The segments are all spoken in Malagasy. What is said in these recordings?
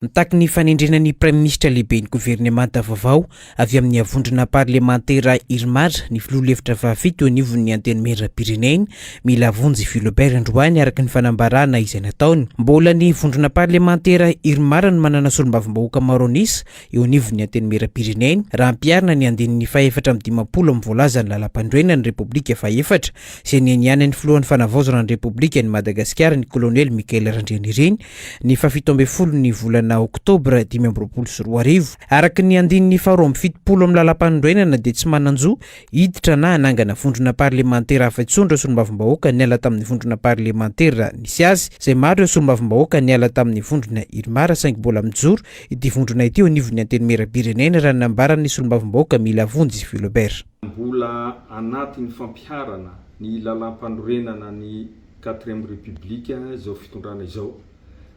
Mitaky ny fanendrena ny Praiminisitra Lehiben'ny Governemanta vaovao avy amin'ny vondrona parlemantera Irmar ny Filoha lefitra fahafito eo anivon'ny Antenimierampirenena, Mila Vonjy Philobert androany araka ny fanambarana izay nataony. Mbola ny vondrona parlemantera Irmar no manana solombavambahoaka maro an'isa eo anivon'ny Antenimierampirenena raha ampiharina ny andininy fahefatra amby dimampolo amin'ny voalazan'ny Lalampanorenan'ny Repoblika fahefatra izay nianianan'ny Filohan'ny Fanavaozana ny Repoblikan'i Madagasikara ny Kolonely Michael Randrianirina ny fahafito ambin'ny folo ny volana oktobra dimy amby roapolo sy roa arivo. Araka ny andininy faharoa amby fitopolo amin'ny Lalampanorenana dia tsy manan-jo hiditra na hanangana vondrona parlemantera hafa intsony ireo solombavambahoaka niala tamin'ny vondrona parlemantera nisy azy izay maro ireo solombavambahoaka niala tamin'ny vondrona Irmar saingy mbola mijoro ity vondrona ity eo anivon'ny Antenimierampirenena raha ny nambaran'ny solombavambahoaka Milavonjy Philobert. Mbola anatin'ny fampiharana ny Lalampanorenana ny quatrième république izao fitondrana izao.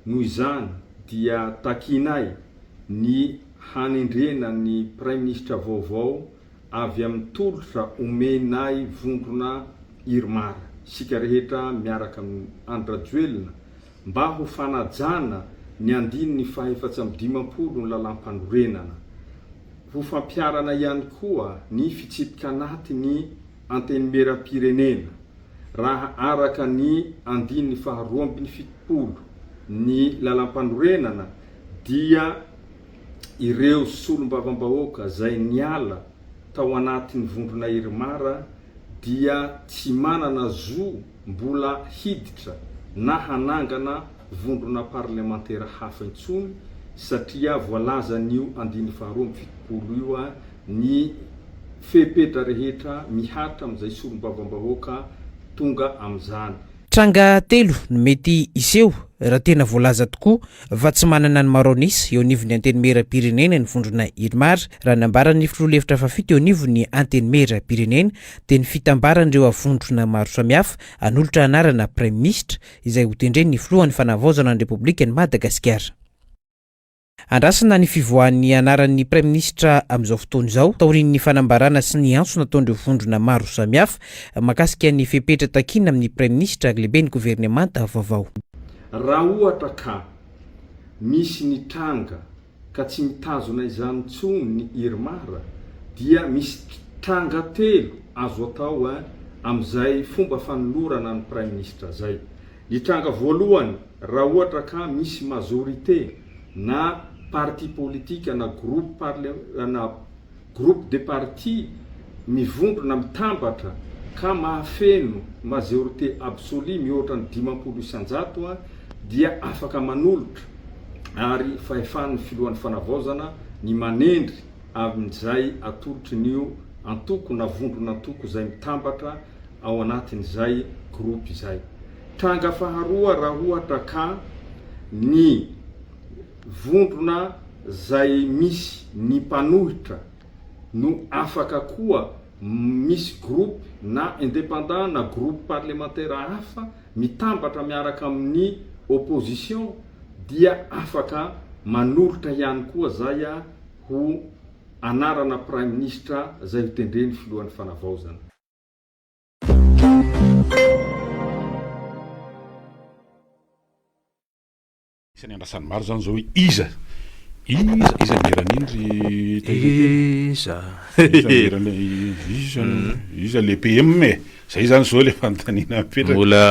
Noho izany dia takianay ny hanendrena ny praiminisitra vaovao avy amin'ny tolotra omenay vondrona Irmar, isika rehetra miaraka amin'i Andry Rajoelina mba ho fanajana ny andininy fahaefatra amby dimampolo ny lalàmpanorenana. Ho fampiharana ihany koa ny fitsipika anaty ny. Antenimierampirenena, raha araka ny andininy faha roa ambin'ny fitopolo ny lalampanorenana dia ireo solombavambahoaka izay niala tao anatin'ny vondrona Irmar dia tsy manana zo mbola hiditra na hanangana vondrona parlemantera hafa intsony satria voalazan'io andininy faha roa ambin'ny fitopolo io ny fepetra rehetra mihatra amin'izay solombavambahoaka tonga amin'izany. Tranga telo no mety hiseho raha tena voalaza tokoa fa tsy manana ny Marronis eo anivon'ny Antenimieram-pirenena ny vondrona Irmar. Raha nambaran'ny filoha lefitra fahafito eo anivon'ny Antenimieram-pirenena dia ny fitambaran'ireo avondrona maro samihafa hanolotra anarana praiminisitra izay hotendren'ny filohan'ny Fanavaozana ny Repoblikan'i Madagasikara. Andrasana ny fivoahan'ny anaran'ny Praiminisitra amin'izao fotoana izao, taorian'ny fanambarana sy ny antso nataon'ireo vondrona maro samihafa mahakasika ny fepetra takiana amin'ny Praiminisitra ary Lehiben'ny Governemanta vaovao. Raha ohatra ka misy ny tranga ka tsy mitazona izany intsony ny Irmar dia misy tranga telo azo atao amin'izay fomba fanolorana ny Praiminisitra izay. Ny tranga voalohany, raha ohatra ka misy majorité na parti politique na groupe parlementaire na groupe de parti mivondrona mitambatra ka mahafeno majorité absolue mihoatra ny dimampolo isan-jato dia afaka manolotra ary fahefan'ny filohan'ny fanavaozana ny manendry amin'izay atolotry ny antoko na vondron'antoko izay mitambatra ao anatin'izay groupe izay. Tranga faharoa raha ohatra ka ny vondrona izay misy ny mpanohitra no afaka koa misy groupe na independant na groupe parlemantera hafa mitambatra miaraka amin'ny opposition dia afaka manoritra ihany koa zay ho anarana praiminisitra izay ho tendren'ny filohan'ny fanavaozana. Isany andrasan'ny maro izany izao hoe iza? Iza? Iza ny eran'iny ry Iza? Iza? Iza le PM e? Zay izany izao le fanontaniana mipetraka. Mbola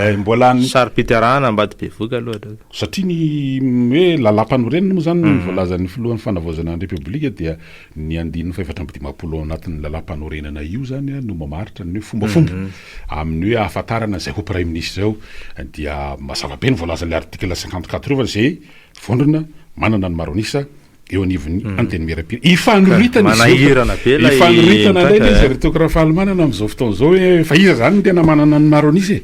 eh, mbola ny saro-pitarahana ambady bevoka aloha aloha. Satria ny hoe lalam-panorenana moa izany no mm. voalazan'ny filohan'ny fanavaozana ny Repoblika dia Ny andininy fahefatra amby dimampolo ao anatin'ny Lalàmpanorenana io izany no mamaritra ny hoe fombafomba amin'ny hoe ahafantarana izay ho Praiminisitra izao dia mazava be ny voalazan'ny article cinquante quatre io fa izay vondrona manana ny maro an'isa eo anivon'ny Antenimierampirenena. Ifanoritana izy ireo. Ifanoritana indray ilay izy ry Toky Rafalimanana amin'izao fotoana izao hoe fa iza izany no tena manana ny maro an'isa e?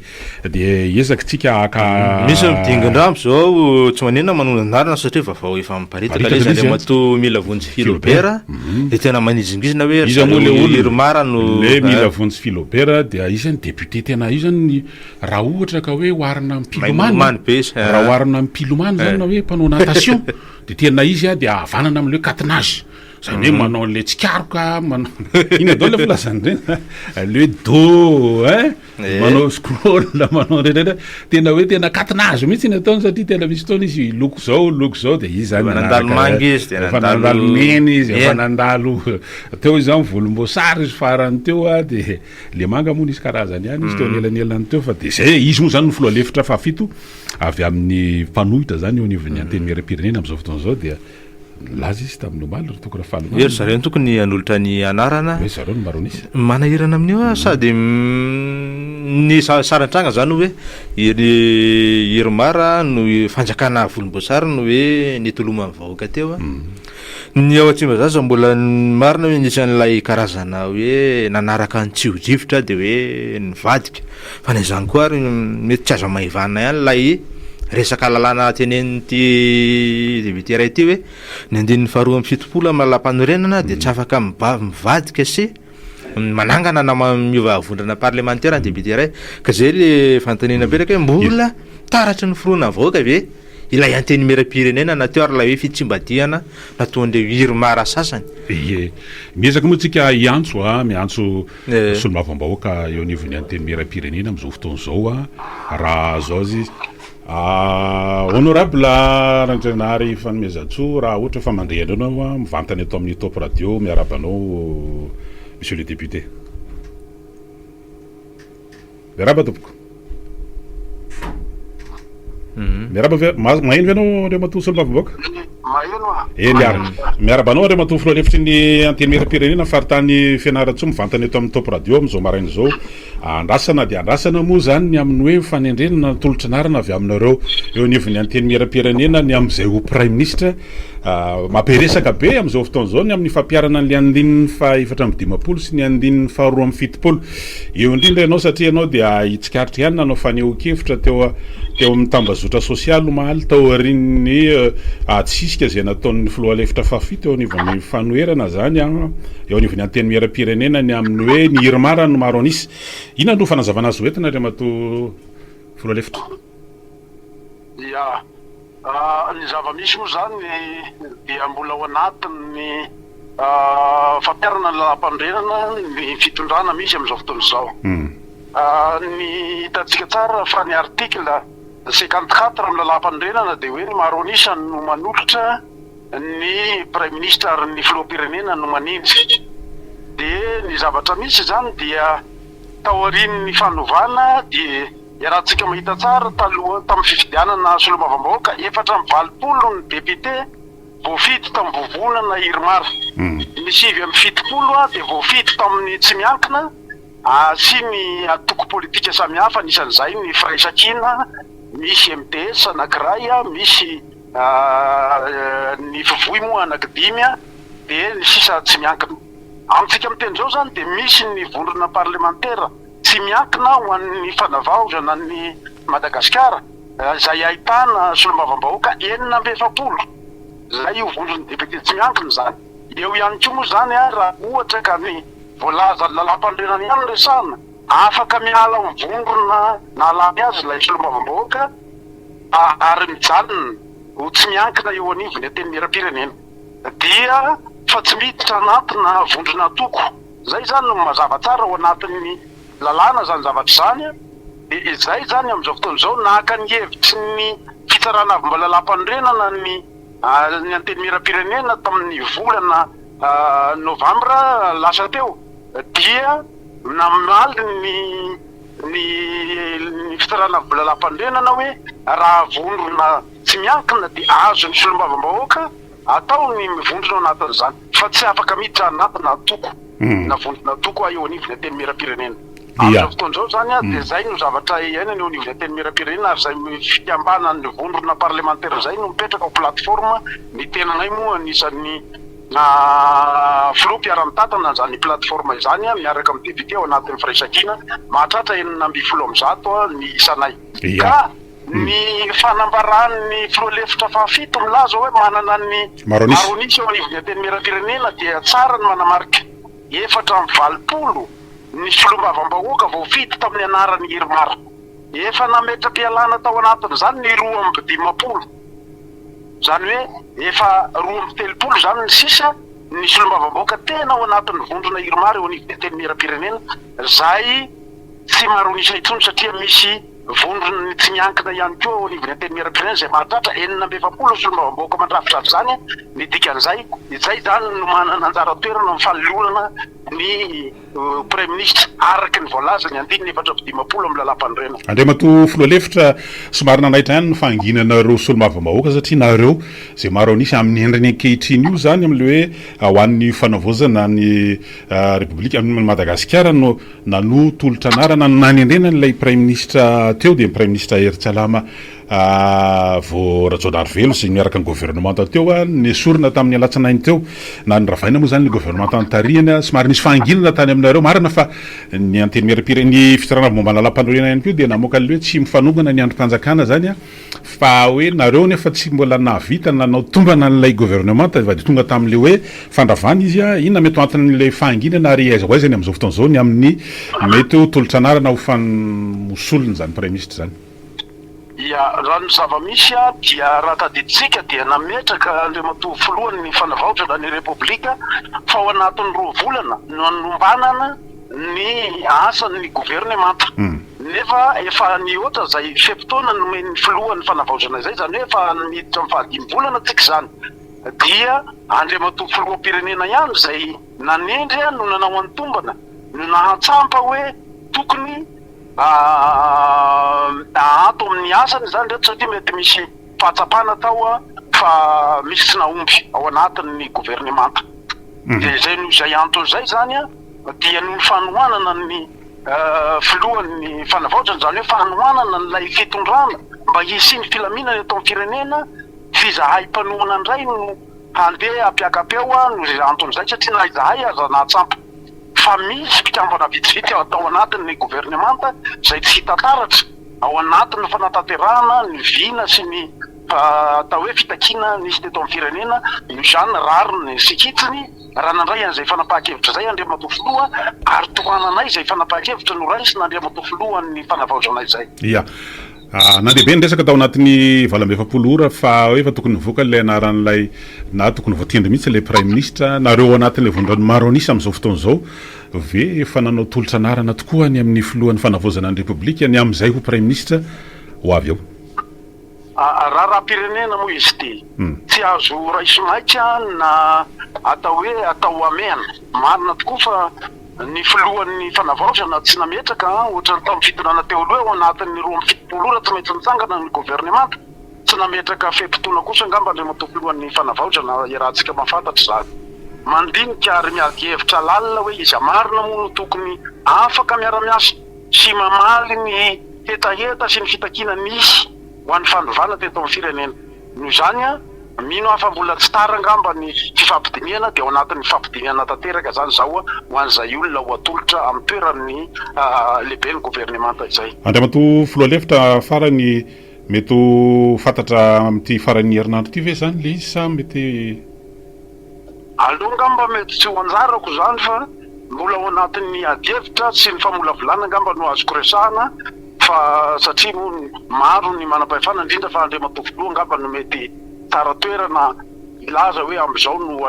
Dia ezaka tsika haka. Misy ny dingin-drambo izao tsy manenina manonona anarana satria vavao efa miparitaka ilay izy Andriamatoa Mila Vonjy Philobert dia tena manizingizina hoe ry zareo Irmar no ilay Mila Vonjy Philobert dia izy zany député tena io zany raha ohatra ka hoe oharina amin'ny mpilomano raha oharina amin'ny mpilomano zany na hoe mpanao natation dia tena izy dia havanana amin'ny hoe catenage izany hoe manao an'ilay tsikaroka manao inona daholo ilay filazana ireny ilay hoe dos hein manao scroll manao rehetra tena hoe tena katina azy mihitsy ny ataony satria tena misy fotoana izy loko zao loko zao de izy zany nandalo manga izy de efa nandalo mena izy efa nandalo teo izy zany volomboasary izy farany teo a de le manga moa nisy karazany ihany izy teo mm. anelanelan'ny teo fa de zay izy moa zany ny filoha lefitra fahafito avy amin'ny mpanohitra zany eo anivon'ny mm. antenimieram-pirenena am'izao fotoana izao dia Nilaza izy tamin'ny omaly ry Toko Rafalimanana. Hoe ry zareo ny tokony hanolotra ny anarana. Hoe zareo no maronisa. Manahirana amin'io aho sady ny sarintranga zany hoe iry Irmar no fanjakana volomboasary no hoe nitoloman'ny vahoaka teo a. Ny ao Tsimbazaza mbola marina hoe nisy an'ilay karazana hoe nanaraka ny tsiodrivotra de hoe nivadika. Fa na izany koa ary mety tsy azo amaivanina ihany ilay resaka lalàna tenenin'ity député iray ity hoe ny andininy faharoa amby fitopolo amin'ny lalàmpanorenana dia tsy afaka mivadika sy manangana na miova vondrona parlemantera ny député iray ka izay le fanontaniana apetraka hoe mbola taratry ny fironan'ny vahoaka ve ilay antenimieram-pirenena na teo ary ilay hoe fitsimbadihana nataon'ireo irmara sasany? Ie. Miezaka moa tsika hiantso, miantso. Solombavambahoaka eo anivon'ny Antenimierampirenena amin'izao fotoana izao raha azo azy Honorable Randrianary Fanomezantsoa raha ohatra fa mandre anareo ianao mivantana eto amin'ny Top Radio miarahaba anao Monsieur le Député. Miarahaba tompoko. Miarahaba ve maheno ve anao Andriamatoa Solombavambahoaka? Maheno aho. Eh miara miarahaba anao Andriamatoa Filoha lefitry ny Antenimieram-pirenena faritany Fianarantsoa mivantana eto amin'ny Top Radio amin'izao maraina izao. Andrasana dia andrasana moa izany ny amin'ny hoe fanendrena na tolotry ny arina avy aminareo eo anivon'ny Antenimieram-pirenena ny amin'izay ho Praiminisitra. Mampiresaka be amin'izao fotoana izao ny amin'ny fampiharana ny andininy faha efatra amby dimampolo sy ny andininy faharoa amby fitopolo. Eo indrindra ianao satria ianao dia hitsikaritra ihany nanao fanehoan-kevitra teo teo amin'ny tambazotra sosialy omaly taorian'ny adisisika izay nataon'ny filoha lefitra fahafito eo anivon'ny fanoherana izany eo anivon'ny antenimieram-pirenena ny amin'ny hoe ny Irmar no maro an'isa. Inona no fanazavana azo entina Andriamatoa filoha lefitra? Ia. Ny zava-misy moa izany dia mbola ao anatin'ny fampiharana ny lalàmpanorenana ny fitondrana misy amin'izao fotoana izao. Ny hitantsika tsara fa ny article cinquante quatre amin'ny lalàmpanorenana dia hoe ny maro an'isa no manolotra ny praiminisitra ary ny filoham-pirenena no manendry. Dia ny zavatra misy izany dia taorian'ny fanovana dia. Iarahantsika mahita tsara, taloha tamin'ny fifidianana solombavambahoaka, efatra amby valopolo ny depiote voafidy tamin'ny vovonana Irmar. Ny sivy amby fitopolo dia voafidy tamin'ny tsy miankina sy ny antoko politika samihafa, anisan'izay ny Firaisankina, misy MDS anankiray, misy ny Fivoy moa anankidimy, dia ny sisa tsy miankina. Amintsika miteny izao izany dia misy ny vondrona parlemantera. tsy miankina ho an'ny fanavaozana an'i Madagasikara izay ahitana solombavambahoaka enina amby efapolo izay ho vonjin'ny depiote tsy miankina izany. Eo ihany koa moa izany raha ohatra ka ny voalazan'ny lalàmpanorenana ihany no resahina, afaka miala amin'ny vondrona nahalany azy ilay solombavambahoaka ary mijanona ho tsy miankina eo anivon'ny Antenimierampirenena dia fa tsy miditra anatina vondrona antoko. Izay izany no mazava tsara ao anatin'ny lalàna izany zavatra izany dia izay izany amin'izao fotoana izao naka ny hevitry ny fitsarana avy mbola lalam-panorenana ny ny antenimieram-pirenena tamin'ny volana novambra lasa teo dia namaly ny ny ny fitsarana avy mbola lalam-panorenana hoe raha vonona tsy miankina dia azon'ny solombavambahoaka Atao ny mivondrona ao anatin'izany fa tsy afaka miditra anaty na antoko na vondron'antoko ahy eo anivon'ny Antenimierampirenena. Amin'izao fotoana izao izany dia izay no zavatra iainana eo anivon'ny Antenimierampirenena ary izay fikambanan'ny vondrona parlemantera izay no mipetraka ho plateforme, ny tenanay moa anisan'ny filoha mpiara-mitantana an'izany plateforme izany miaraka amin'ny député ao anatin'ny firaisankina mahatratra enina ambin'ny folo amin'ny zato ny isanay ka Ny fanambaran'ny filoha lefitra fahafito milaza hoe manana ny Maroanisa eo anivon'ny Antenimierampirenena dia tsara ny manamarika efatra amby valopolo ny solombavambahoaka voafidy tamin'ny anaran'i Irmar. Efa nametra-pialana tao anatin'izany ny roa amby dimampolo, izany hoe efa roa amby telopolo izany ny sisa ny solombavambahoaka tena ao anatin'ny vondrona Irmar eo anivon'ny Antenimierampirenena izay tsy Maroanisa intsony satria misy Vondron'ny tsy miankina ihany koa ao anivon'ny Antenimierampirenena izay mahatratra enina amby efapolo solombavambahoaka mandrafitra an'izany ny dikan'izay. Izay izany no manana anjara toerana amin'ny fanolorana ny Praiminisitra araka ny voalazan'ny andininy efatra amby dimampolo amin'ny Lalàmpanorenana. Andriamatoa Filoha lefitra, somary nanaitra ihany ny fahanginana ireo solombavambahoaka satria nareo izay maro an'isa amin'ny endriny ankehitriny io izany amin'ilay hoe ho an'ny fanavaozana ny Repoblika, an'i Madagasikara no Nanohy tolotra anarana no nanendrena an'ilay Praiminisitra teo dia ny Praiminisitra Hery Tsalama vao Rajaonarivelo sy miaraka ny governemanta teo nesorina tamin'ny alatsinainy teo. Nanoravaina moa izany ilay governemanta notarihina. Somary nisy fahanginana tany aminareo marina fa ny Antenimierampirenena, ny Fitondrana Vao Momba ny Lalampanorenana ihany koa dia namoaka ny hoe tsy mifanongana ny andrim-panjakana izany an! Fa hoe nareo nefa tsy mbola nahavita nanao tombana an'ilay governemanta efa dia tonga tamin'ilay hoe fandravana izy an! Inona mety ho anton'ilay fahanginana ary aiza ho aiza ny amin'izao fotoana izao ny amin'ny mety ho tolo-tsanarana ho ho solon'izany praiminisitra izany? Ia, raha ny zava-misy dia raha tadidintsika dia nametraka Andriamatoa Filohan'ny Fanavaozana ny Repoblika fa ao anatin'ny roa volana no hanombanana, ny asan'ny governemanta nefa efa nihoatra izay fe-potoana nomen'ny filoha ny fanavaozana izay, izany hoe efa miditra amin'ny fahadimy volana tsika izany dia Andriamatoa Filoham-pirenena ihany izay nanendry no nanao an'ny tombana no nahatsampa hoe tokony ahato amin'ny asany izany ireto satria mety misy fahatsapana atao fa misy tsy nahomby ao anatin'ny governemanta dia izay noho izay antony izay izany dia ny fanohanana ny filohan'ny fanavaozana, izany hoe fanohanana an'ilay fitondrana mba hisian'ny filaminana eto amin'ny firenena, tsy izahay mpanohana indray no handeha hampiaka-peo noho anton'izay satria na izahay aza nahatsampy fa misy mpikambana vitsivitsy tao anatin'ny governemanta izay tsy hita taratra ao anatin'ny fanatanterahana ny vina sy ny atao hoe fitakiana nisy teto amin'ny firenena, io izany rariny sy hitsiny. Raha nandray an'izay fanapahan-kevitra izay Andriamatoa Filoha ary tohananay izay fanapahan-kevitra noraisin'Andriamatoa Filohan'ny Fanavaozana izay. Ia. Nandeha be ny resaka tao anatin'ny valo amby efapolo ora fa hoe efa tokony nivoaka ilay anaran'ilay na tokony voatendry mihitsy ilay Praiminisitra. Nareo ao anatin'ilay vondrona maro an'isa amin'izao fotoana izao ve efa nanao tolotra anarana tokoa any amin'ny Filohan'ny Fanavaozana ny Repoblika ny amin'izay ho Praiminisitra ho avy eo? Raharaham-pirenena moa izy ity. Tsy azo raisomaika na atao hoe atao hamehana. Marina tokoa fa ny filohan'ny fanavaozana tsy nametraka, ohatran'ny tamin'ny fitondrana teo aloha, ao anatin'ny roa amby fitopolo ora tsy maintsy mitsangana ny governemanta. Tsy nametraka fe-potoana kosa angamba Andriamatoa Filohan'ny Fanavaozana iarahantsika mahafantatra izany. Mandinika ary miady hevitra lalina hoe iza marina moa no tokony afaka miara-miasa. sy mamaly ny hetaheta sy ny fitakiana nisy ho an'ny fandovana teto amin'ny firenena. Noho izany, mino aho fa mbola tsy tara angamba ny fifampidinihana, dia ao anatin'ny fifampidinihana tanteraka izany izaho ho an'izay olona ho atolotra amin'ny toeran'ny lehiben'ny governemanta izay. Andriamatoa Filoha Lefitra, farany, mety ho fantatra amin'ity faran'ny herinandro ity ve izany ilay izy sa mety. Aleo angamba mety tsy ho anjarako izany fa mbola ao anatin'ny adihevitra sy ny famolavolana angamba no azoko resahana fa satria moa maro ny manam-pahefana indrindra fa Andriamatoa Filoha angamba no mety tsara toerana hilaza hoe amin'izao no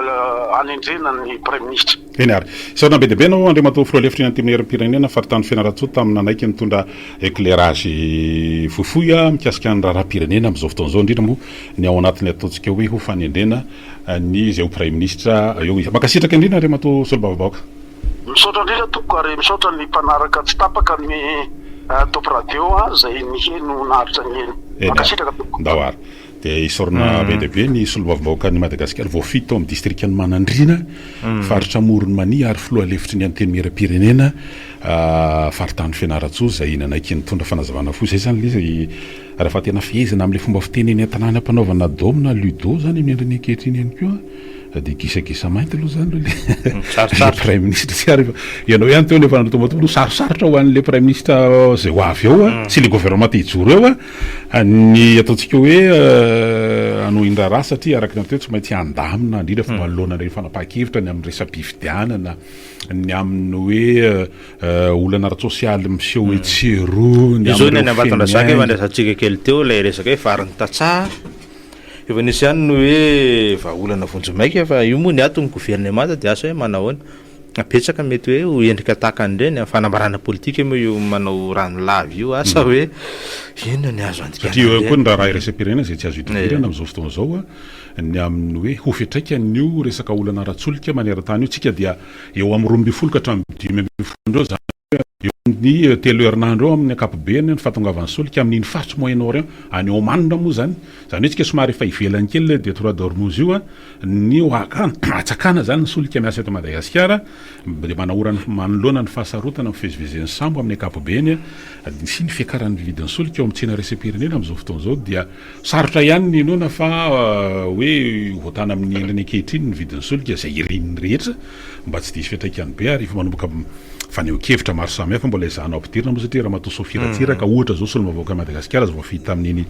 anendrena ny Praiminisitra. Eny ary. Sorona be dia be anao Andriamatoa Filoha Lefitry ny Antenimierampirenena, Faritany Fianarantsoa tamin'ny nanaiky nitondra éclairage fohifohy mikasika ny raharaham-pirenena amin'izao fotoana izao, indrindra moa ny ao anatin'ny ataontsika hoe ho fanendrena ny zay ho praiminisitra eo izy. Mankasitraka indrindra Andriamatoa Solombavambahoaka. Misaotra indrindra tompoko ary misaotra ny mpanaraka tsy tapaka ny Top Radio a, izay niheno naharitra niheno. Mankasitraka tompoko. Ndao ary dia isaorana be dia be ny Solombavambahoakan'i Madagasikara voafidy tao amin'ny distrikan'i Manandriana, faritra Amoron'i Mania ary filoha lefitry ny Antenimierampirenena faritany Fianarantsoa izay nanaiky nitondra fanazavana fohy. Izay izany ilay izy. Raha fa tena fehezina amin'ilay fomba fiteny eny an-tanàna ampanaovana dômy na ludo izany ny endriny ankehitriny ihany koa dia gisagisa mainty aloha izany aloha ilay praiminisitra. Tsy ary fa ianao ihany teo no efa nanatombatombo no sarosarotra ho an'ilay praiminisitra izay ho avy eo sy ilay governemanta hijoro eo ny ataontsika hoe hanohin-draharaha satria araka ny anteo tsy maintsy handamina indrindra fa manoloana ilay fanapahan-kevitra ny amin'ny resa-pifidianana, ny amin'ny hoe Olana ara-tsosialy miseho etsy sy eroa ny amin'ireo fenoin'aina. Izao ny any Ambatondrazaka efa nilazatsika kely teo ilay resaka hoe varin'ny tantsaha, efa nisy ihany ny hoe vahaolana vonjimaika fa io moa ny ato ny governemanta dia asa hoe manao ahoana, fa betsaka mety hoe ho endrika tahaka an'ireny, fanambarana politika moa io manao rano lava io, asa hoe inona ny azo andikana an'ireny. Aty ao koa ny raharaha iraisam-pirenena izay tsy azo idivirana amin'izao fotoana izao, ny amin'ny hoe ho fiantraikan'io resaka olana ara-tsolika maneran-tany io, tsika dia eo amin'ny roa ambin'ny folo ka hatramin'ny dimy ambin'ny folo andro eo, izany hoe eo amin'ny telo herinandro eo amin'ny ankapobeny ny fahatongavan'ny solika amin'iny faritry Moyen-Orient any Oman moa izany, izany hoe isika somary efa ivelany kely ilay Détroit d'Ormuz io ny hatsakana izany ny solika miasa eto Madagasikara dia manahora manoloana ny fahasarotana mivezivezen'ny sambo amin'ny ankapobeny sy ny fiakaran'ny vidin'ny solika ao amin'ny tsena iraisam-pirenena amin'izao fotoana izao dia Sarotra ihany ny inoana fa hoe hoatana amin'ny endriny ankehitriny ny vidin'ny solika izay irin'ny rehetra mba tsy diso fiantraikany be ary efa manomboka fanehoan-kevitra maro samihafa mbola ezahana ampidirina moa satria Ramatoa Sophie Ratsiraka ohatra izao solombavambahoakan'i Madagasikara izay voafidy tamin'iny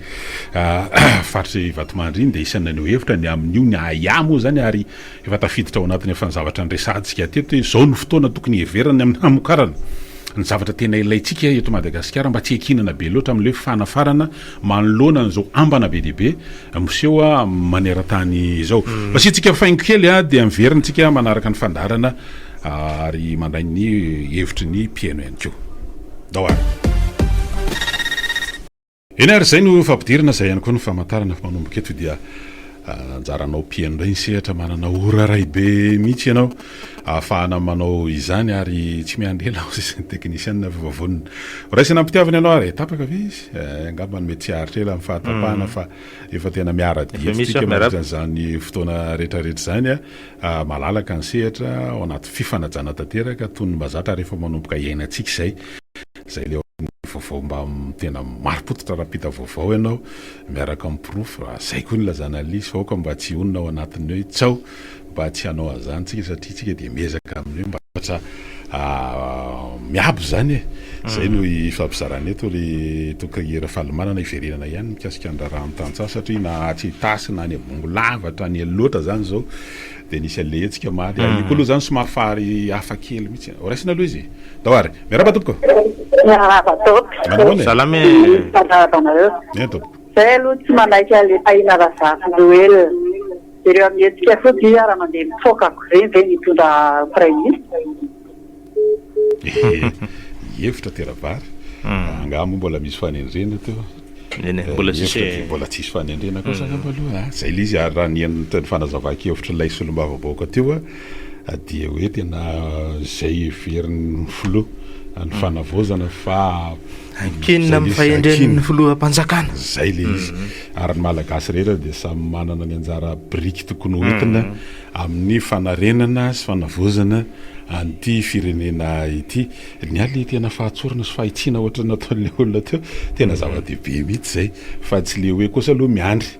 faritry Vatomandry iny dia isan'ny naneho hevitra ny amin'io ny ahiahy moa izany ary efa tafiditra ao anatin'ireo efa zavatra niresahantsika teto hoe izao no fotoana tokony hiheverana amin'ny hamokarana ny zavatra tena ilaintsika eto Madagasikara mba tsy hiankinana be loatra amin'ilay fanafarana manoloana an'izao ambana be dia be miseho maneran-tany izao. Asiantsika faingo kely dia miverina isika manaraka ny fandaharana ary mandray ny hevitry ny mpihaino ihany koa. Ndao ary. Eny ary izay no fampidirana izay ihany koa no famantarana fa manomboka eto dia Anjaranao mpiheno indray ny sehatra, manana ora iray be mihitsy ianao ahafahana manao izany ary tsy miandry ela hoy izay ny teknisianina fa efa vonona. Horaisina am-pitiavana ianao ary tapaka ve izy? Eh, angamba mety tsy haharitra ela ny fahatapahana fa efa tena miara-dia Efa misy isika aho, miarahaba. mandritra izany fotoana rehetrarehetra izany. Ah, malalaka ny sehatra, ao anaty fifanajana tanteraka, toy ny mazatra ary efa manomboka iainantsika izay. Izay ilay ao amin'ny vaovao mba tena marim-pototra raha mpita vaovao ianao miaraka amin'ny porofo raha izay koa no ilazana an'ilay izy fa aoka mba tsy hionona ao anatin'ny hoe tsaho mba tsy hanao an'izany isika satria isika dia miezaka amin'ny hoe mba hafatra miabo izany e! Izay no ifampizarana eto ry Toky Rafalimanana hiverenana ihany mikasika ny raharahan'ny tantsaha satria na atsy Itasy na any Ambohingolava hatrany Elo loatra izany izao Dia nisy an'ilay hetsika omaly ary io koa aloha izany somary fahary hafa kely mihitsy an! Horaisina aloha izy tao ary. Miarahaba tompoko ô! Miarahaba tompoko! Manao ahoana e? Salama e! Mifanarahaba anareo. Eny tompoko. Izahay aloha tsy manaiky an'ilay Tahiana Razafinjoelina. Jereo amin'ny hetsika fotsiny hoe raha mandeha mipoaka akory ireny ve ny hitondra Praiminisitra? Ehe, efitra tera vary. Angaha moa mbola misy fanendrena teo? Eny e, mbola tsisy e. Mbola tsisy fanendrena kosa angamba aloha. Izay ilay izy ary raha ny henon'ny teny fanazavan-kevitr'ilay solombavambahoaka teo dia hoe tena izay heverin'ny filoha ny fanavaozana fa Ankinina amin'ny fahendren'ny filoham-panjakana. Izay ilay izy. Ary ny Malagasy rehetra dia samy manana ny anjara biriky tokony hoentina. amin'ny fanarenana sy fanavaozana an'ity firenena ity. Nialy ilay tena fahatsorana sy fahitsiana ohatran'ny nataon'ilay olona teo, tena zava-dehibe mihitsy izay fa tsy ilay hoe kosa aloha miandry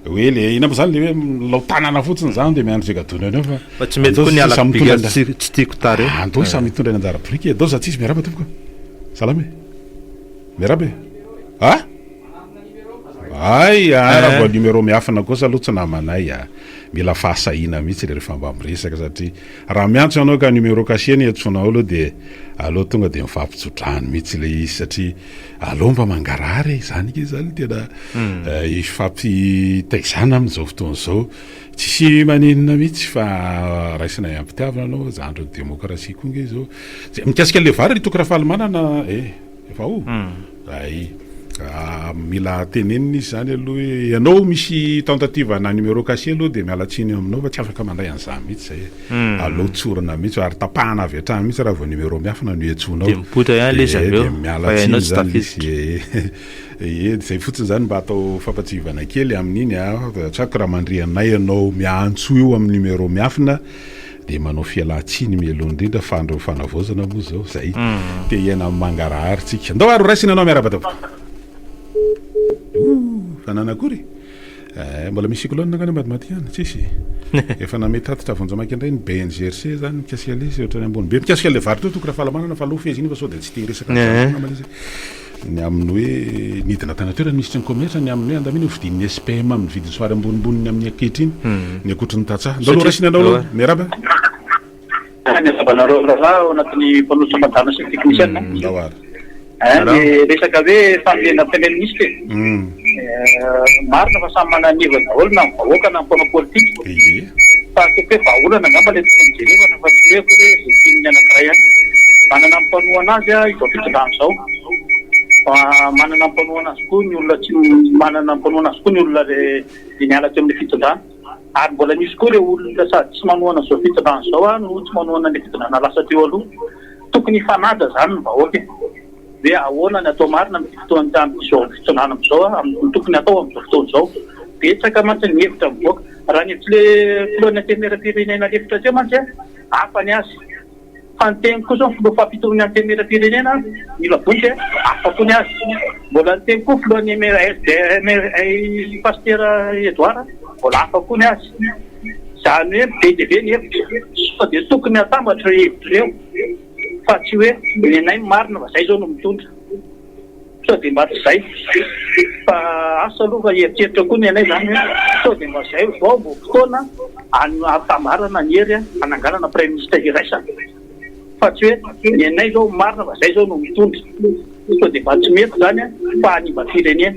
hoe ilay inona moa izany ilay hoe milao tanana fotsiny izany dia miandry izay gadona eo fa. Fa tsy mety koa ny halako biriky tsy tsy tiako tara eo. Andao samy hitondra ny anjara biriky e. Andao izaho tsy izy miarahaba tompoko a. Salama e. Miarahaba e. A! Hay ah raha vao numéro miafina kosa aloha tsy namanay ah. Mila fahasahiana mihitsy le rehefa mba miresaka satria raha miantso ianao ka numéro caché no iantsoanao aloha de aleo tonga de mifampitso-drano mihitsy le izy satria aleo mba mangarahara e, zany nge zany tena hifampitaizana amin'izao fotoana izao. Tsisy maninona mihitsy fa raisinay am-pitiavana anao, zandrin'ny demokrasia koa nge izao. Mikasika le vary ry Toky Rafalimanana eh. Efa o? Hay. Mila tenenina izy izany aloha hoe ianao misy tentative ana numéro caché aloha dia miala tsiny aminao fa tsy afaka mandray an'izany mihitsy izay e. Hmm. Aleo tsorina mihitsy ary tapahana avy hatrany mihitsy raha vao numéro miafina no iantsoana ao. Dia mipoitra ihany ilay izy avy eo. Dia miala tsiny izany izy. Ie, izay fotsiny izany mba atao fampatsiahivana kely amin'iny a. Tsy haiko raha mandre anay ianao miantso io amin'ny numéro miafina. dia manao fialan-tsiny mialoha indrindra fa andron'ny fanavaozana moa izao izay te hiaina amin'ny mangarahary tsika ndao ary horaisina anao miarahaba tompoko fanana akory eh, mbola misy cyclone angana madimati ihany tsisy efa name tatitra vonjamaiky indray ny BNGRC zany mikasika le izy ohatrany ambony be mikasika le varotra toko raha fahalamanana fa aloha fehezina fa sao dia tsy te hiresaka eh. Ny amin'ny hoe nidina tany an-toerana ny Minisitry ny Kaomersa, ny amin'ny hoe andamina eo fidin'ny SPM amin'ny vidiny somary ambonimbony ny amin'ny ankehitriny, ny ankoatry ny tantsaha. Ndao aloha raisina anao aloha. Miarahaba. Miarahaba anareo rahalahy ao anatin'ny mpanolotra ambadrano sy ny teknisiana. Ndao ary. Ny resaka hoe fahamendram-piainan'ny Minisitra e. Marina fa samy manana ny heviny daholo na ny vahoaka na ny mpanao politika. Ye. Fa ataoko hoe vahaolana angamba ilay tokony jerevana fa tsy ny hoe akory hoe izay tian'ny anankiray ihany. Manana ny mpanohana azy izao fitondrana izao. Fa manana ny mpanohana azy koa ny olona tsy manana ny mpanohana azy koa ny olona izay niala teo amin'ilay fitondrana. Ary mbola misy koa ireo olona sady tsy manohana izao fitondrana izao no tsy manohana an'ilay fitondrana lasa teo aloha. Tokony hifanaja izany ny vahoaka e. Hoe ahoana ny atao marina amin'ity fotoan'ny tany misy ao amin'ny fitondrana amin'izao amin'ny ny tokony hatao amin'izao fotoana izao. Betsaka mantsy ny hevitra mivoaka. Raha ny hevitry le filohan'ny antenimieram-pirenena lefitra teo mantsy hafa ny azy. Fa ny teniko kosa ny filoha fampitony antenimieram-pirenena mila vohitra e, hafa koa ny azy. Mbola ny teniko koa filohan'ny MRSDRMRI Pasitera Edouard mbola hafa koa ny azy. Izany hoe be dia be ny hevitra. Sao dia tokony hatambatra ireo hevitra ireo. fa tsy hoe nenay ny marina fa zay zao no mitondra sao de mba tsy zay fa asa aloha fa hieritreritra koa nenay zany hoe sao de mba zay vao vao fotoana hampitambarana ny hery hananganana praiminisitra iraisana fa tsy hoe nenay zao marina fa zay zao no mitondra sao de mba tsy mety zany fa hanimba firenena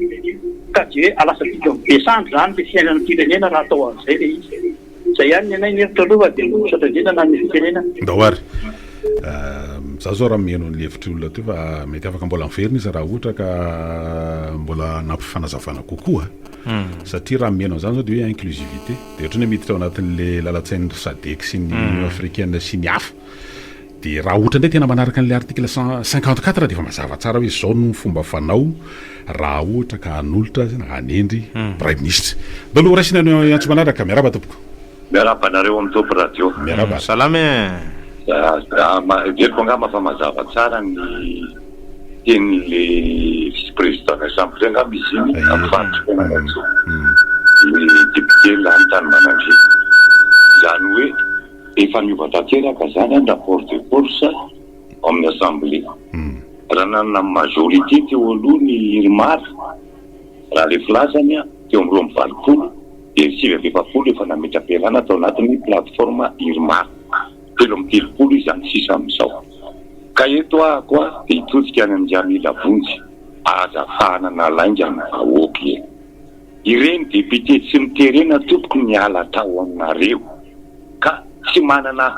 ka de hoe alasantsika mibe sandry zany le fiainan'ny firenena raha atao an'izay le izy Zay ihany ny anay ny hevitro aloha fa de misaotra indrindra na ny fitenenana. Ndao ary. Za zao raha miheno an'le hevitr'i olona teo fa mety afaka mbola miverina izy raha ohatra ka mbola hanampy fanazavana kokoa satria raha miheno an'zany zao de hoe inclusivité de ohatran'ny hoe miditra ao anatin'le lalan-tsain'ny sadec sy ny union africaine sy ny hafa. Dia raha ohatra indray tena manaraka an'ilay article cent cinquante quatre dia efa mazava tsara hoe izao no fomba fanao raha ohatra ka hanolotra na hanendry Praiminisitra. Daholo ho raisina ny antso manaraka. Miarahaba tompoko. Miarahaba anareo amin'ny Top Radio. Miarahaba. Salama e. Heveriko angamba fa mazava tsara ny tenin'ilay Vice Président Vincent Bory angamba izy iny amin'ny faritry Fianarantsoa, ny Député lany tany Mananjy. Izany hoe. Efa niova tanteraka izany ny rapport de force ao amin'ny assemblée. Raha nanana ny majorité teo aloha ny Irmar, raha ilay filazany, teo amin'ny roa amby valopolo, dia ny sivy amby efapolo efa nametra-pialana tao anatin'ny plateforme Irmar. Telo amby telopolo izy amin'ny sisa amin'izao. Ka eto ahako aho dia hitodika any amin'i Jamila Vonjy, aza fahanana lainga ny vahoaka e! Ireny député tsy miterena tompoko niala tao aminareo ka tsy manana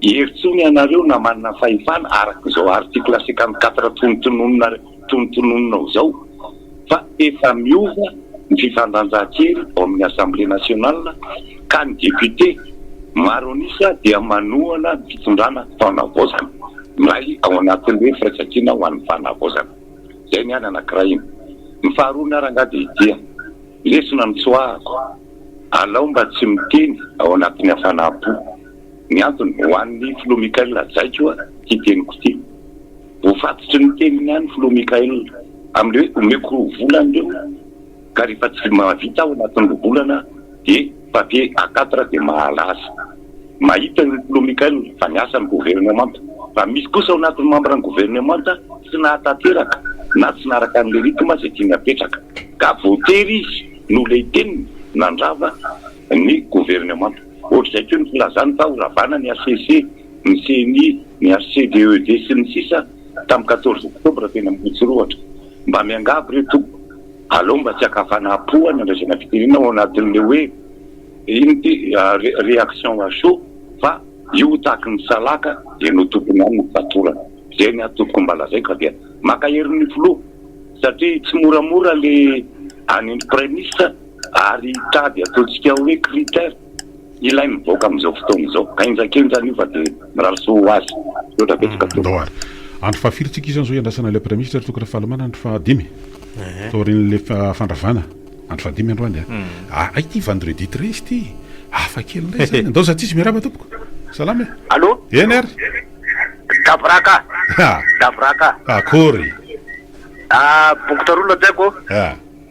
hery tsony ianareo na manana fahefana araka izao article cinquante quatre tonontononina tonontonononao izao fa efa miova ny fifandanjan-kery ao amin'ny assemblée nationale ka ny député maro an'isa dia manohana ny fitondrana fanavaozana miray ao anatin'ny hoe firaisan-kina ho an'ny fanavaozana. Zay ny an anankiray iny. Ny faharoa ny ara ngaha dia dia. Lesona nitsoahako. Alao mba tsy miteny ao anatin'ny hafanam-po. Ny antony, ho an'ny Filoha Mickaël hajaiko oa ty teniko ity. Voafatotry ny teniny ihany Filoha Mickaël, amin'ilay hoe omeko roa volana ireo. Ka rehefa tsy mahavita ao anatin'ny roa volana dia papier A quatre dia mahalaza. Mahita io Clou Michael fa niasa ny governemanta. Fa misy kosa ao anatin'ny mambran'ny governemanta tsy nahatanteraka na tsy naraka an'ilay rythme izay tiany apetraka. Ka voatery izy no lehy teniny nandrava ny governemanta. Ohatr'izay koa ny filazany fa horavana ny HCC, ny ceni, ny HCDED sy ny sisa tamin'ny quatorze octobre teny Ambohitsorohatra. Mba miangavy re tompoko. Aleo mba tsy akafana po any andraisana fitirina ao anatin'le hoe inn ty reaction à chaud fa io tahaky ny salaka dia no tokony any ny fatorana. Zay ny ahy tompoko mba lazaiko fa dia maka hery ny filoha satria tsy moramora le any ny praiminisitra ary hitady ataontsika hoe critère. Ilay mivoaka amin'izao fotoana izao. Henjakenjana io fa dia mirary soa ho azy. Misaotra betsaka tompoko. Ndao ary. Andro fahafiry tsika izao izao iandrasana ilay Praiminisitra ry Toky Rafalimanana andro fahadimy taorian'ilay fandravana andro fahadimy androany a! Aa ity vendredi treize ity hafa kely indray izany. Ndao Zatsisy miarahaba tompoko. Salama e! Allo! Eny ary! Davraka! Davraka! Akory! Bokotra roa no hajaiko.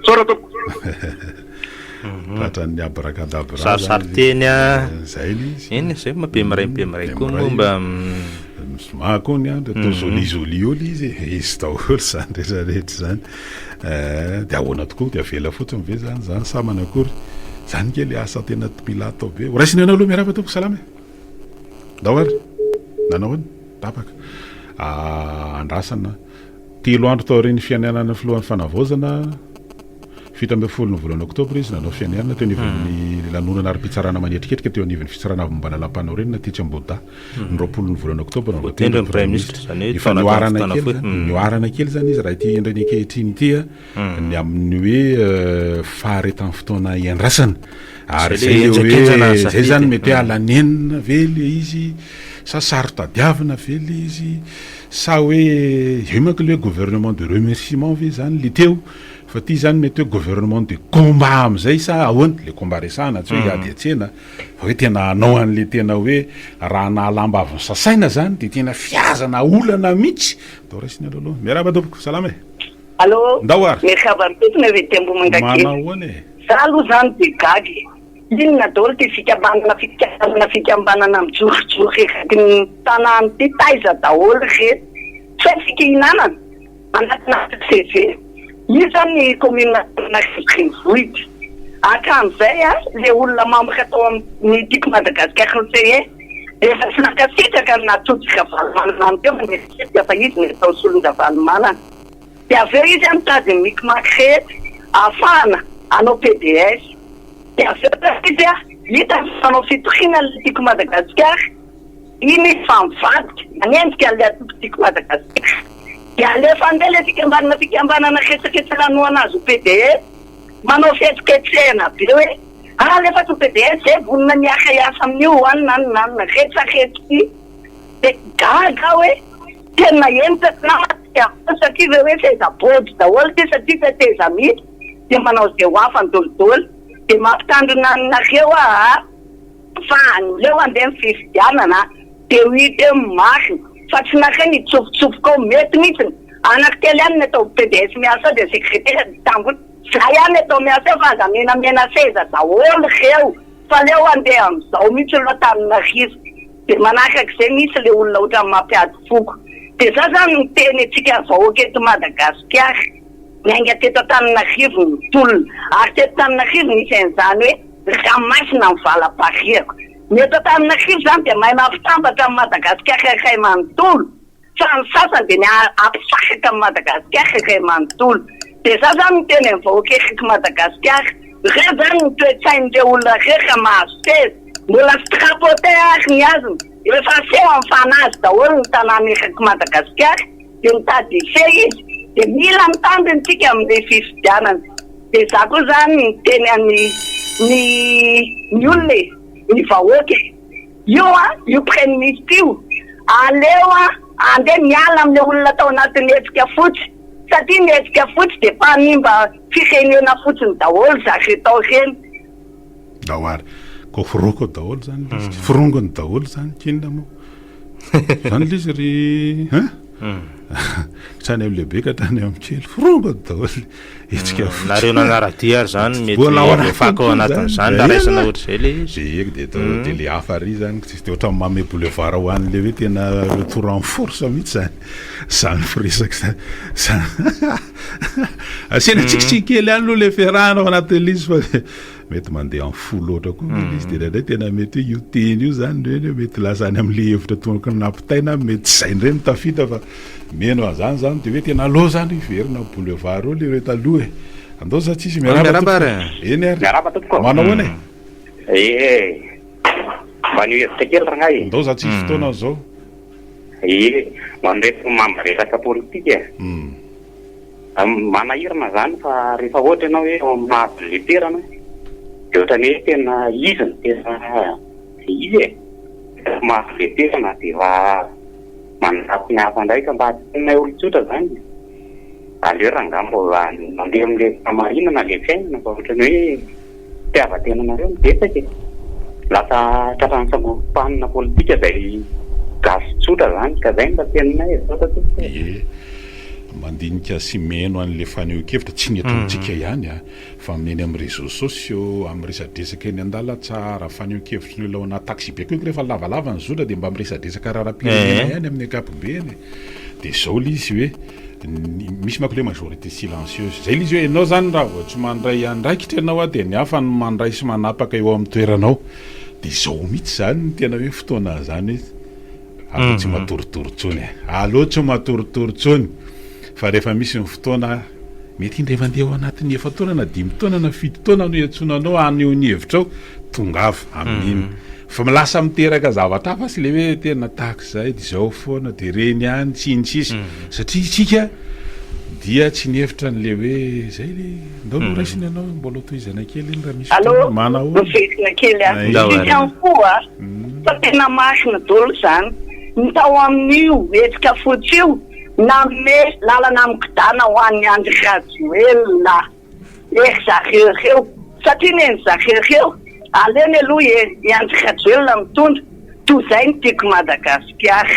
Misaotra tompoko. Tratran'ny abracadabra zany. Sarisary teny a. Zay le izy. Eny zay ma be miray be miray koa moa mba Mizoma koa ny andro atao joli joli eo le izy e. Izy daholo zany rehetra rehetra zany. Dia ahoana tokoa dia avela fotsiny ve zany zany sa manakory? Zany nge le asa tena mila atao be. Ho raisina anao aloha miarahaba tompoko salama e. Ndao ary. Nanao ahoana? Tapaka. Andrasana. Telo andro taorian'ny fianianan'ny filohan'ny Fanavaozana, fito ambin'ny folo ny volana oktobra, izy nanao fianianana teo anivon'ny lanonana ara-pitsarana manetriketrika teo anivon'ny Fitsarana Avo Ambalalampanorenina tetsy Ambohidahy, ny roapolo ny volana oktobra vao tendry ny praiminisitra. Efa nihoarana kely izany izy raha ity endriny ankehitriny ity. ny amin'ny hoe faharetan'ny fotoana iandrasana ary zay le hoe zay zany mety hoe alanenina ve le izy sa saro-tadiavina ve le izy sa hoe eo manko le hoe gouvernement de remerciement ve zany le teo fa ty zany mety hoe gouvernement de combat amizay sa ahoana le combat resahana tsy hoe hmm. hiady atsena fa hoe tena anao an'le tena hoe raha nahalambaviny sasaina zany de tena fiazana olana mihitsy atao raisina aloha aloha miarahaba tompoko salama e Allo, Ndao ary. miakaba am-pintona ry Tembo Mangagery. Manao ahoana e? Za aloha zany dia gaga e! Inona daholo ity fikambanana fikambanana fikambanana mijorojoro erakn ny tanàna ity? Taiza daholo ry reto? Tsy hay fikihinanana? Anatin'andro CV? Io zany ny commune Antananarivo Renivohitra. Hatramin'izay a, le olona membre tao amin'ny Tiako Madagascar conseiller dia efa tsy nankasitraka ny naha Tojo Ravalomanana any teo fa nieritreritra fa izy no atao solon-dRavalomanana. dia avy eo izy a mitady ny micmac rehetra ahafahana hanao PDS dia avy eo zany izy a hitany fa manao fitoriana ilay Tiako Madagasikara iny izy fa mivadika manenjika an'ilay antoko Tiako Madagasikara dia alefa andeha ilay fikambanana fikambanana retraretra nanohana azy ho PDS manao fihetsiketsehana be hoe ah alefa ato ny PDS zay vonona ny hiara hiasa amin'io an an an retraretra ity dia gaga aho hoe Tena henitra sy namantsika aho satria ve hoe seza body daholo ity satria teteza mihitsy dia manao izay ho afany dolidoly dia mampitandrina anareo aho fa aleo handeha ny fifidianana dia ho hita eo ny marina fa tsy nareo ny hitsofotsofoka ao mety mihitsy ny anako kely ihany ny atao PDS miasa ao dia secretaire dia tangotra za ihany atao miasa ao fa aza menamena seza daholo reo fa aleo handeha amizao mihitsy aloha Antananarivo Dia manakak'izay mihintsy le olona otrany mampiady foko. Dia za zany no miteny antsika vahoaka eto Madagasikara. Niainga teto Antananarivo ny tolona. Ary teto Antananarivo nisy an'izany hoe ranomasina ny valapariako. Ny eto Antananarivo zany dia mahay mampitambatra an'i Madagasikara iray manontolo. Fa ny sasany dia ny hampisahaka an'i Madagasikara irery manontolo. Dia za zany miteny amin'ny vahoaka erak'i Madagasikara, ireo zany ny toe-tsain'ireo olona ireo raha mahazo seza, mbola strapotin ary ny hazony, efa aseho amin'ny fanazy daholo ny tanàna erak'i Madagasikara, dia mitady hifehy izy, dia mila ny tandiny tsika amin'ny fifidianana. Dia za koa zany miteny an'ny ny olona e, ny vahoaka e. Io an, io praiminista io aleo an andeha miala amin'ilay olona tao anatin'ny hetsika fotsy satria ny hetsika fotsy dia mpanimba firenena fotsiny daholo zareo tao ireny. Ndao ary. Ko foroko daholo zany lisy. Forongony daholo zany kinona mo. Zany lisy ry hein. Hatrany amin'ny lehibe ka hatrany amin'ny kely forongony daholo. Hetsika fotsiny. Nareo nanara-dia ary zany mety Mbola ao anatiny voafaka ao koa anatin' izany, izany raha raisina zay, ohatr'izay le izy. Dia heky dia atao dia le hafa ary zany ko tsisy dia ohatran'ny manome boulevard ho an'le hoe tena retour en force mihitsy zany zany firesaka zany. Za- Asiana tsikitsiky kely ihany aloha le fiarahana ao anatin'ilay izy fa. Mety mandeha amin'ny fo loatra koa ve ilay izy, dia indraindray tena mety hoe io teny io izany indray indray mety lasa any amin'ilay hevitra toa ohatran'ny nampitaina aminy, mety tsy izay indray no tafita fa mino an'izany izany, dia hoe tena allo izany hiverina amin'ny boulevard eo ilay hoe taloha e! Andao sa tsisy? Miarahaba tompoko! Eny ary! Miarahaba tompoko! Manao ahoana e? Ee! Maneho hevitra kely rangahy e! Andao sa tsisy fotoana izao? Ee! Ho an'ireto mamaresaka politika e! Manahirana izany fa rehefa ohatra ianao hoe ao amin'ny maha bileterana dia ohatran'ny hoe tena izy no tena dia izy e! Rehefa maha bileterana dia efa manaratsy ny hafa indray ka mba tenenay olon-tsotra izany e! Aleo rangahy mba mandeha amin'ilay fahamarinana ilay fiainana fa ohatran'ny hoe. fitiavan-tenanareo no betsaka e! Lasa tratran'ny sangorom-panina politika izay gasy tsotra izany ka izay no mba tenonay e! Misaotra tompoko e! Ie, mandinika sy miheno an'ilay fanehoan-kevitra, tsy ny eto amintsika ihany an, fa amin'ny eny amin'ny réseaux sociaux, amin'ny resadresaka eny an-dalantsara, fanehoan-kevitry ny olona ao anaty taxi-be koa, rehefa lavalava ny zotra dia mba miresadresaka raharaham-pirenena ihany amin'ny ankapobeny, dia izao ilay izy hoe. Misy manko le majorité silencieuse. Zay le izy hoe enao zany raha vao tsy mandray andraikitra enao a dia ny hafa no mandray sy manapaka eo amin'ny toeranao. Dia zao mihitsy zany no tena hoe fotoana zany hoe aleo tsy matoritory tsony e. Aleo tsy matoritory tsony fa rehefa misy ny fotoana mety indray mandeha ao anatin'ny efa-taona na dimy taona na fito taona no iantsoana anao haneho ny hevitrao, tongava amin'iny. Fa lasa miteraka zavatra hafa tsy le hoe tena tahaka izay dia izao foana dia ireny ihany sy ny sisa satria isika dia tsy nihevitra an'le hoe izay le ndao aloha raisina ianao mbola hotohizana kely iny raha misy fotoana manahoana? Allo, hotohizina kely an, izy ihany koa fa tena masina dolo izany ny tao amin'io hetsika fotsy io nanome lalana mikodana ho an'i Andry Rajoelina. Ry zareo reo satria nen'ny zareo reo aleny aloha e i Andry Rajoelina mitondra toa zay ny tiako Madagasikara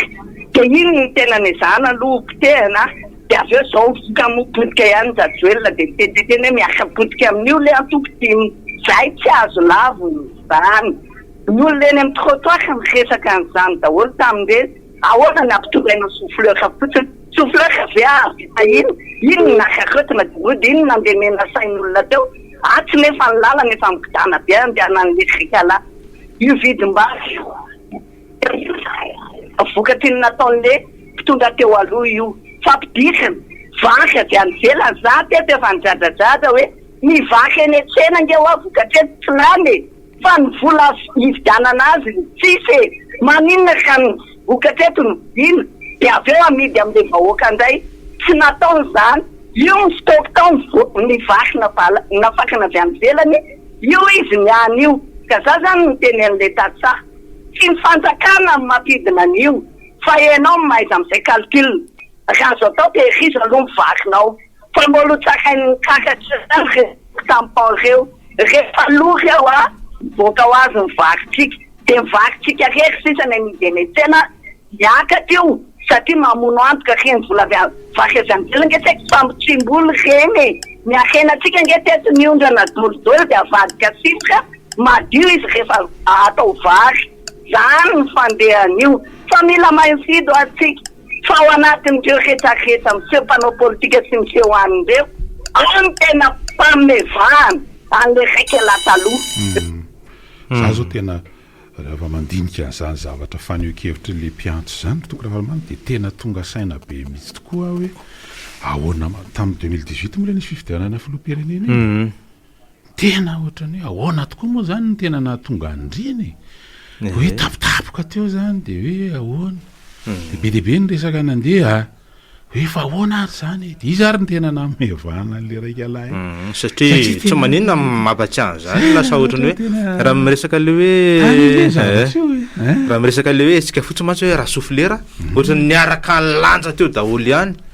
de iny no tena nezahana aloha ho potehina de avy eo zao ka moa potika ihany ny Rajoelina de miteniteny hoe miarka potika amin'io le antoko tim zay tsy azo lavina izany ny olona eny amin'ny trottoir miresaka an'izany daholo tamin'ireny Ahoana ny ampitondrainao soflera fotsiny? Soflera ve avy tahin? Iny no nakaretina de mody iny no nandemena sain olona teo atsy nefa ny lalana efa mikodana be andehanany lekrikala io vidimbary io dia vokatry ny nataon le mpitondra teo aloha io fa pidiriny vary avy any ivelany za teto efa nidradradrada hoe mivaky eny an tsena nge wa vokatry eny tsy lany e! Fa ny vola hividianana azy no tsisy e! Maninona ka ny vokatra eto no vidiana dia avy eo amidy amin'ilay vahoaka indray? Tsy nataony izany. Io ny stock tao ny vaky navala nafakana avy any ivelany io izy ny any io ka za zany niteny an'ilay tantsaha tsy ny fanjakana no mampidina an'io fa enao no mahaiza mizay calcul raha azo atao tehirizo aloha ny vakinao. fa mbola ho tsarain'ny karatra ihany ireo tampon ireo rehefa lo ry ao ah! mivoaka ho azy ny varintsika dia ny varintsika irery sisa ny amidy eny an-tsena miakatra io satria mamono antoka ry ny vola avy any vary avy any ivelany nge saika fa mitsimboly ireny e! ny harena antsika nge teto ny ondrana dolidoly dia avadika sifra madio izy rehefa atao vary izany ny fandehan'io fa mila mahay mifidy hoa tsika Fa ao anatin'ireo retraretra miseho mpanao politika sy miseho any ireo aho no tena pamevahana an'ilay raika lahy taloha. Za zao tena rehefa mandinika an'izany zavatra fanehoan-kevitr'ilay mpiantso izany Toky Ravalomanana dia tena tonga saina be mihitsy tokoa aho hoe ahoana tamin'ny deux mille dix-huit moa ilay nisy fifidianana filoham-pirenena iny e? Tena ohatran'ny hoe ahoana tokoa moa izany no tena nahatonga andriana e? Dia hoe tampotampoka teo izany dia hoe ahoana? Dia be dia be ny resaka nandeha hoe fa ahoana ary izany e? Dia iza ary no tena nanome vahana an'ilay raika lahy? Satria tsy tena maninona mampahatsiahy an'izany e, lasa ohatran'ny hoe tena raha miresaka ilay hoe tany ilay eh, zavatra io e. Eh? raha miresaka ilay hoe hetsika fotsiny mantsy hoe rasouflera, ohatran'ny niaraka nilanja teo daholo ihany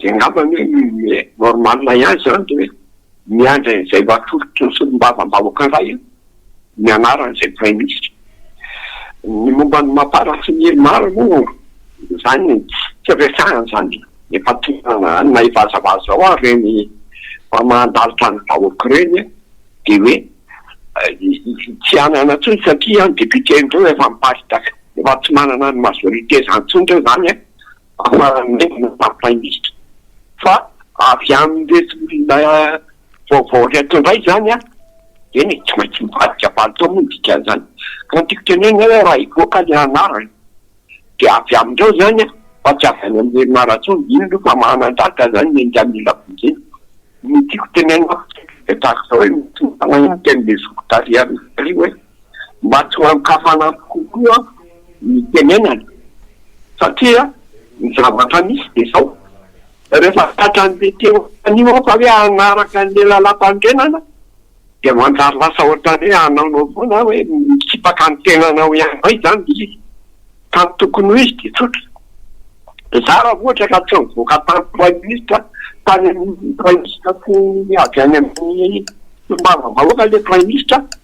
Dia angamba anie hoe normal ihany izany dia hoe miandry an'izay mba atolotry ny solombavambahoaka indray an, ny anaran'izay praiminisitra. Ny momba an'i Mapar sy ny Irmar moa izany tsy resahina izany, efa tohanana any na hivazavaza ao ary ireny fa mandalitra ny vahoaka ireny an, dia hoe tsy hanana intsony satria an, ny depiote ndreo efa miparitaka, efa tsy manana ny majorite izany intsony indreo izany an. Mampahalemana, mampahery fa avy amin'ireto olona vaovao ireto indray izany an, eny e, tsy maintsy mivadika palitao moa ny dikan'izany, ka ny tiako tenenina hoe raha hivoaka ilay anarana dia avy amin'ireo izany an, fa tsy avy any amin'ny herinaratra ao, iny aloha fa manan-danja izany ny enga mila vonjena, ny tiako tenenina fotsiny dia tahaka izao hoe, misy olona iny teny Bezoky tarihan'i Ry hoe. mba tsy ho an-kafanampo kokoa ny tenenana satria ny zavatra misy dia izao, rehefa tratran'ny be teo anio aho fa hoe hanaraka an'ilay lalàmpanorenana dia manjary lasa ohatran'ny hoe hanaonao foana aho hoe mitsipaka ny tenanao ihany indray izany ilay izy ka ny tokony ho izy dia tsotra, izaho raha vao ohatra ka tsy nivoaka tamiko praiminisitra tany amin'ny praiminisitra avy any amin'ny solombavambahoaka ilay praiminisitra,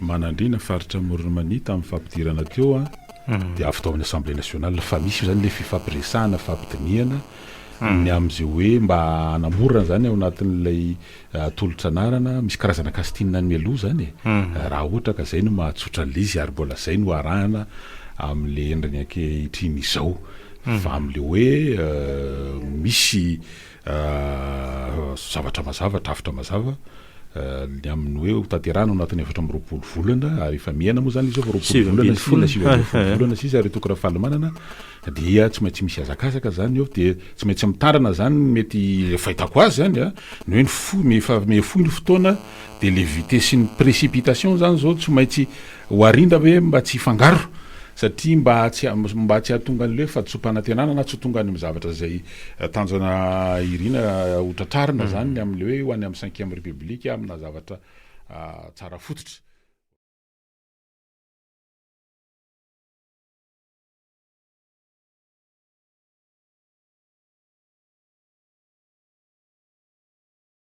Manandriana faritra Amoron'i Mania tamin'ny fampidirana teo an, dia avy tao amin'ny Assemblée nationale fa misy izany ilay fifampiresahana, fampidinihana ny amin'izay hoe mba hanamorana izany ao anatin'ilay tolotra anarana, misy karazana casting any mialoha izany e, raha ohatra ka izay no mahatsotra an'ilay izy ary mbola izay no arahana amin'ilay endriny ankehitriny izao, fa amin'ilay hoe misy zavatra mazava, drafitra mazava, ny amin'ny hoe hotanterahana ao anatin'ny efatra amby roapolo volana, ary efa miaina moa izany izy eo fa roapolo Sivy ambin'ny volana folo. sy sivy ambin'ny folo volana sisa ary Toky Rafalimanana, dia tsy maintsy misy hazakazaka izany eo, dia tsy maintsy mitandrina izany ny mety, ilay fahitako azy izany an, ny hoe ny fo, ny efa mihafoy ny fotoana, dia ilay vitesse ny précipitation izany izao tsy maintsy ho arindra ve mba tsy hifangaro, satria mba tsy, mba tsy hahatonga an'ilay hoe fahatsoam-panantenana na tsy ho tonga any amin'ny zavatra izay Tanjona irina ho tratrarina izany ny amin'ilay hoe ho any amin'ny cinquième république amina zavatra tsara fototra.